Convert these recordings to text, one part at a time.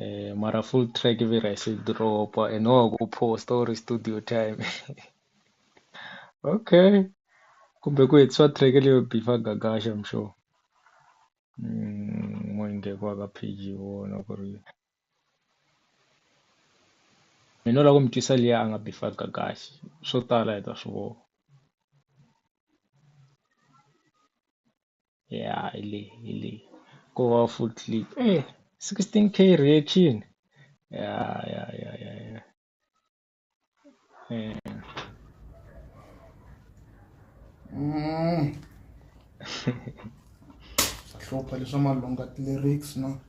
Eh, mara full track vira isidropa and wakuposta uri studio time okay kumbe ku hetiswa track leyo bifa gagasha I'm sure mm, moinge kwaka page yona ku ri mina u lava ku mi twisa liya a nga bifa gagashi swo tala hi ta swi vona ya hi le hi le ko va full clip sixteen K reaction ya ya ya ya ya swa hlupha leswa malunga ti-lyrics na.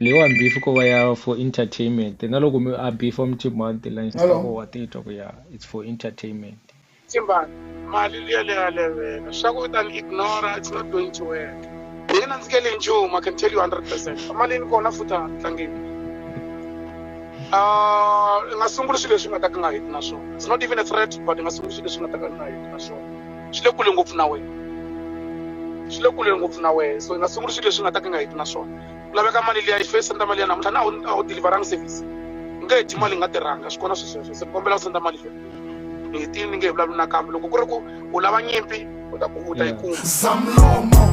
Leyiwani beef ko va ya for entertainment na loko mi a beef wa mi timhanti la Hello. insta wa titwa ku ya it's for entertainment Timbani, mali liya leya levela. Swa ku u ta ni ignora, it's not going to work. Hi nge nandzikeli hi nchumu, I can tell you 100%. Emalini kona futhi a ha tlangeni. Ah, i nga sunguli swilo leswi nga ta ka nga heti na swona. It's not even a threat, but i nga sunguli swilo leswi nga ta ka nga heti na swona. swi le kule ngopfu na wena swi le kule ngopfu na wena so hi nga sunguli swilo leswi nga ta ka nga heti na swona ku laveka mali liya yi fesa nda mali ya namuntlha na a wu deliveranga service u nge heti mali yi nga tirhanga swi kona swisweswo se kombela u senda mali liya ni hetini ni nge hi vulavuli nakambe loko ku ri ku u lava nyimpi u ta ku u ta yi kuma zamlomo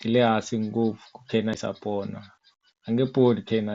yi le hansi ngopfu ku khensa pona a nge pfuni khensa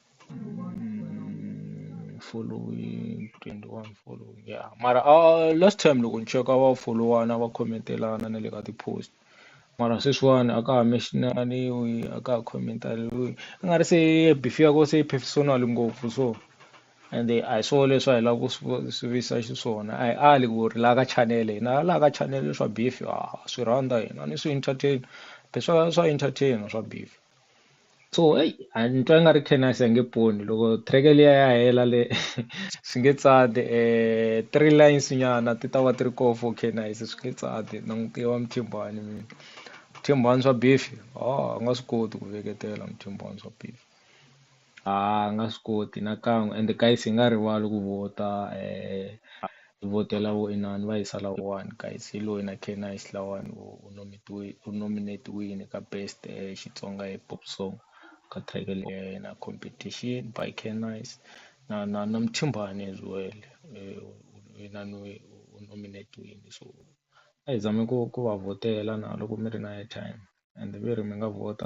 Mm, following 21 following ya mara a last time loko ni cheka va folowana va khometelana na le ka ti-post mara sweswiwani a ka ha mention-ariwi a ka ha khomentariwi i nga ri se beef ya ko se yi personal ngopfu so ende a hi swona leswi a hi lava ku swi vu- swi visa xiswona a hi ali ku ri laha ka channel hina laha ka channel swa beef ha ha swi rhandza hina ni swi entertain leswa swa entertain swa beef. so eyi a ni twa i nga ri Canis a yi nge poni loko track liya ya hela le swi nge tsandi three lines nyana ti ta va ti ri koho for Canis swi nge tsandi na n'wi tiva Muthimbani mina Muthimbani swa beef a nga swi koti ku veketela Muthimbani swa beef. A hi nga swi koti nakan'we ende guys hi nga rivali ku vhota hi vhotela vo inani va hisa lawuwani guys hi loyi na Ken Naish lawani u u nomitiwile u nominate-wini ka best Xitsonga hip hop song ka track leyi ya yena competition by Ken Naish na na na Mthimbani as well u inaniwe u nominiwile so a hi zami ku ku va vhotela na loko mi ri na airtime ende ve ri mi nga vhota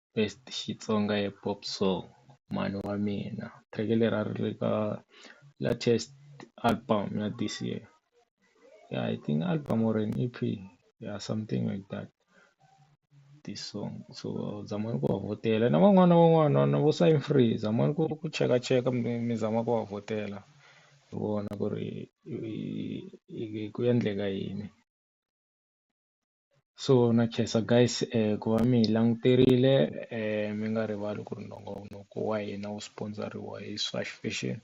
best Xitsonga hip hop song mhani wa mina track leri a ri ri ka latest album ya this year ya I think album or an E_P ya something like that this song so zama ni ku va vhotela na van'wana na van'wana na vo Sign Free zama ni ku ku chekacheka mi mi zama ku va vhotela hi vona ku ri i ku endleka yini. so na khensa guys ku va mi hi languterile mi nga rivali ku ri nongonoko wa hina wu sponsor-iwa hi Swash Fashion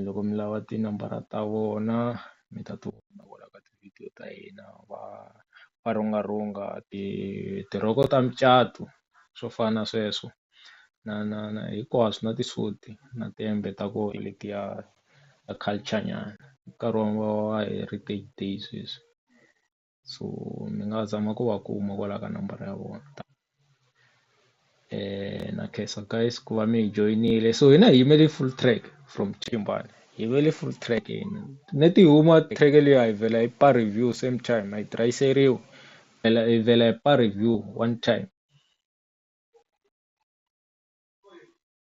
loko mi lava tinambara ta vona mi ta ti kuma kwala ka ti-video ta hina va va rhunga rhunga ti tirhoko ta mucato swo fana na sweswo na na na hinkwaswo na tisudi na tihembe ta koho letiya ta culture nyana nkarhi wa heritage day sweswi. so ni nga zama ku va kuma kwalaya ka nambara ya vona na khensa guys ku va mi hi joyinile so hina hi yimele full track from ximbalo hi yimele full track hina ni ti huma track liya hi vhela hi pa review same time a yi tirhiseriwi phela hi vhela hi pa review one time.